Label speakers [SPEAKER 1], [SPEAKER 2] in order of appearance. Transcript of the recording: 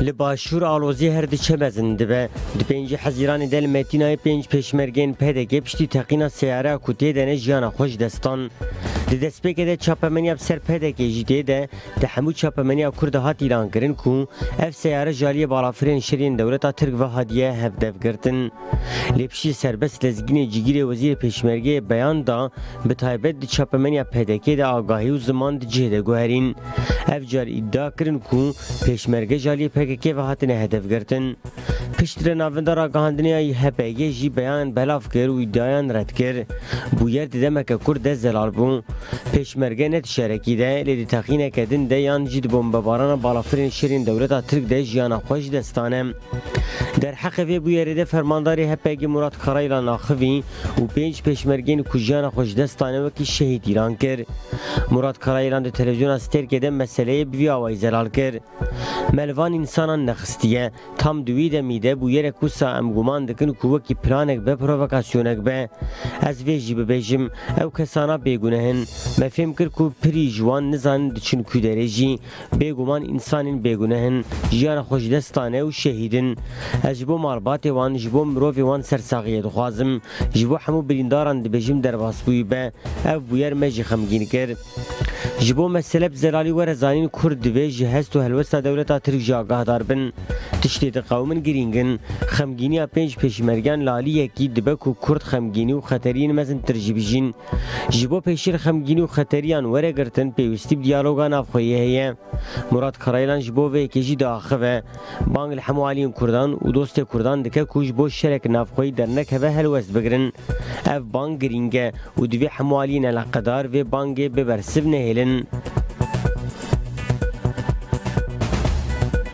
[SPEAKER 1] Li başûr alozî her diçe mezin dibe. Di pêncî hezîranê de li Metînayê pênc pêşmergeyên PDK'ê piştî teqîna seyareya ku tê de ne jiyana xwe ji dest dan. Di destpêkê de çapemeniya bi ser PDK'ê jî tê de di hemû çapemeniya Kurd de hat îlankirin ku ev seyare ji aliyê balafirên şerî yên dewleta Tirk ve hatiye hevdevgirtin. Lê piştî Serbest Lezgînê Cigîrê Wezîrê Pêşmergeyê beyan da, bi taybet di çapemeniya PDK'ê de agahî û ziman di cihê de guherîn. Ev car îdia kirin ku Pêşmerge ji aliyê PKK'ê ve hatine hedefgirtin. Piştre Navenda Ragihandinê ya YHP'ê jî beyanan belav kir û îdiayan red kir. Bûyer di demeke kurt de zelal bû. Pêşmerge ne di şerekî de, lê di texîneke din de yan jî di bombebarana balafirên şerên dewleta Tirk de jiyana xwe ji dest dane. Derheqê vê bûyerê de fermandarê HPG'ê Murat Karaylan axivî û pênc pêşmergeyên ku jiyana xwe ji dest dane wekî şehîd îlan kir. Murat Karaylan di televîzyona Stêrkê de meseleyê bi vî awayî zelal kir, Me li van însanan nexistiye. Tam di wî demî de bûyerek wisa em guman dikin ku wekî planek be provokasyonek be. Ez vê jî bibêjim, ew kesana bêguneh in. Me fêm kir ku pirî ji wan nizanin diçin ku derê jî. Bêguman însanên bêguneh in, jiyana xwe ji dest dane û şehîd in. Ez ji bo malbatê wan, ji bo mirovê wan sersaxiyê dixwazim. Ji bo hemû birîndaran dibêjim derbas bûyî be. Ev bûyer me jî xemgîn kir. Ji bo me Selep Zelalî were zanîn Kurd divê ji hest û helwesta dewleta Tirk jî agahdar bin. Tiştê diqewimin girîng in. Xemgîniya pênc pêşmergeyan li aliyekî dibe ku Kurd xemgînî û xeteriyên mezintir jî bijîn. Ji bo pêşîr xemgînî û xeteriyan were girtin pêwîstî bi diyaloga navxweyî heye. Murat Karaylan ji bo vê yekê jî diaxive. Bang li hemû aliyên Kurdan û dostê Kurdan dike ku ji bo şerek navxweyî dernekeve helwest bigrin. Ev bang girîng e û divê hemû aliyên eleqedar vê bangê bi bersiv nehêlin.